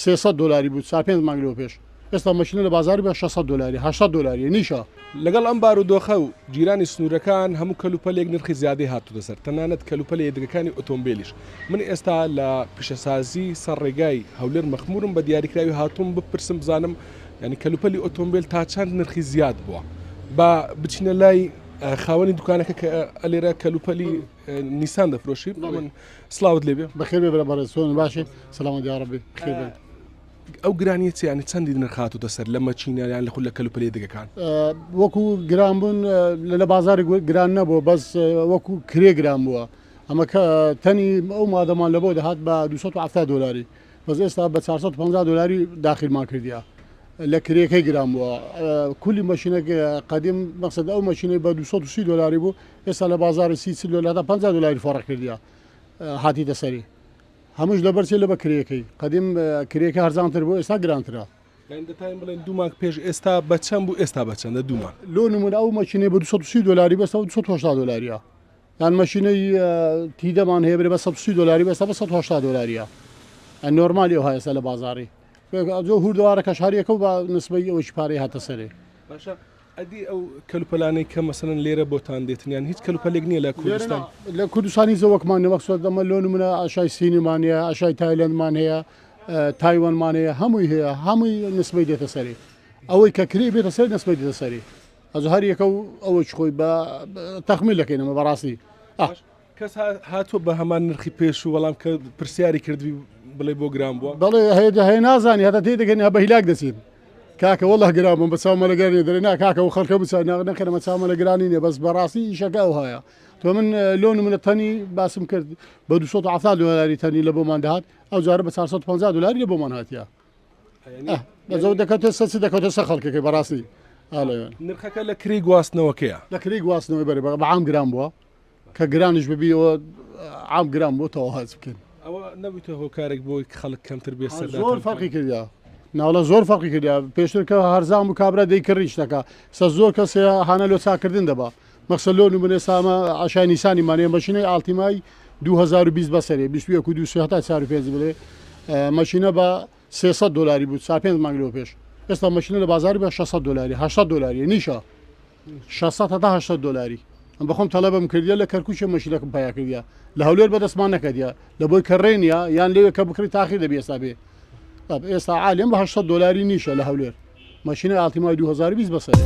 سێ سەد دۆلاری بوو چار پێنج مانگ لەوەپێش ئێستا مەکینە لە بازاری بە شەش سەد دۆلاری هەشت سەد دۆلاریە نیشە. لەگەڵ ئەم بارودۆخە و گیرانی سنوورەکان هەموو کەل و پەلێک نرخی زیادەی هاتووتە سەر تەنانەت کەل و پەلە یەدەگەکانی ئۆتۆمبێلیش من ئێستا لە پیشەسازی سەر ڕێگای هەولێر مەخموورم بە دیاریکراوی هاتووم بپرسم بزانم یانی کەل و پەلی ئۆتۆمبێل تا چەند نرخی زیاد بووە با بچینە لای خاوەنی دوکانەکە کە لێرە کەل و پەلی نیسان دەفرۆشی بڵێ من سڵاوت لێ بێ بەخێر بێ برا بەڕێز چۆنی باشی سەلامەت یا ڕەبی بەخێر بێت. ئەو گرانیە چیە یانی چەندی نرخ هاتوتە سەر لە مەچینە یان لە خول لە کەلوپەلی دەگەکان؟ وەکو گران بوون لە بازاری گران نەبووە بەس وەکو کرێ گران بووە ئەمە کە تەنی ئەو مادەمان لەبەوە دەهات بە 270 دلاری بەس ئێستا بە 450 دلاری داخیرمان کردیا لە کرێکەی گران بووە کولی مەشینەکە قدیم مەقصد ئەو مەشینەی بە 230 دلاری بوو ئێستا لە بازاڕی سی چل دۆلار تا پەنجا دۆلاری فەڕق کردیە هاتیتە سەری هەمووش لەبەر چێ لەبە کرێکەی قەدیم کرێکە هەرزانتر بۆ ئێستا گرانترە دەتایم بڵێن دوو ماک پێش ئێستا بەچەند بوو ئێستا بەچەندە دوومە لۆ نمون ئەو مەچینەی بە 230 دۆلاری بەسەوە 1970 دۆلاریە یان مەشینەی تیدەمان هەیە برێ بە 130 دۆلاری بەسە بە 1970 دۆلاریە ئە نۆرمالی ئەو هەیەسە لە بازاری ئەجۆ هوردەوارە کەشارەکە و بە نسبەی ئەوەی پارەی هاتە سەرێ باشە ئەدی ئەو کەلوپەلانەی کە مەسەلەن لێرە بۆتان دێتن یان هیچ کەلوپەلێک نییە لە کوردستان؟ لە کوردستان هیچ وەکمان نییە، وەک ئەمە لۆ نموونە ئاشای سینمان هەیە، ئاشای تایلەندمان هەیە، تایوانمان هەیە، هەمووی هەیە، هەمووی نسبەی دێتە سەری، ئەوەی کە کرێی بێتە سەری نسبەی دێتە سەری، ئەجا هەر یەکە و ئەوەی خۆی بە تەخمین دەکەین ئەمە بەڕاستی. کەس هاتووە بە هەمان نرخی پێشوو بەڵام کە پرسیاری کردبی بڵێ بۆ گران بووە بەڵێ هەیە هەیە نازانانی هەتا تێ دەگەن یا بە هیلاک دەچین کاکە وەڵه گران بم بە چاومەلەگەرانی دەێ نا کاکە و خەڵکە بچ نەکەمە چاومەلەگرانی نیە بەس بەڕاستی ئیشەکە ئەو هەیە تۆ من لۆ منە تەنی باسم کرد بە 200 دلاری تەنی لە بۆمان دەهات ئەو جارە بە 450 دلاری لە بۆمان هااتە بەزەو دەکەوتە سەچ دەکەوتە سە خەڵکەکە بەڕاستی نرخەکە لە کری گواستنەوەکەیە لە کری گواستنەوەی بەرە بەعام گران بووە کە گرانیش ببی ئەوە عام گران بۆ تەواو هەرچ بکەین ئەوە نەبوویتە هۆکارێک بۆی خەڵک کەمتر بێ سەر زۆر فەرقی کردیا ناوڵە زۆر فەرقی کردیا پێشتر کە هەرزان بوو کابرا دەیکڕی شتەکە سە زۆر کەس هانە لۆ چاکردن دەبا مەخسە لۆ نمونێ سامە عشای نیسانی مانێ مەشینەی ئاڵتیمای 2020 بەسەرێ 21 و 200 هەتا 4 پێنج بڵێ مەشینە بە 300 دلاری بوو سا پێنج مانگ لۆ پێش ئێستا مەشینە لە بازاری بە 600 دلاری 600 دلاری نیشە شەست هەتا هەشت دۆلاری ئەم بەخۆم تەلەبم کردیە لە کەرکوچە مەشینەکەم پیا کردە لە هەولێر بەدەستمان نەکەدیە لە بۆی کەڕێنە یان لەوێ کە بکری تاخیر دەبی ئێستا بێ ئێستا عالم بە هەشت دۆلاری نیشە لە هەولێر مەشینە ئاڵتیمای 2020 بەسەرێ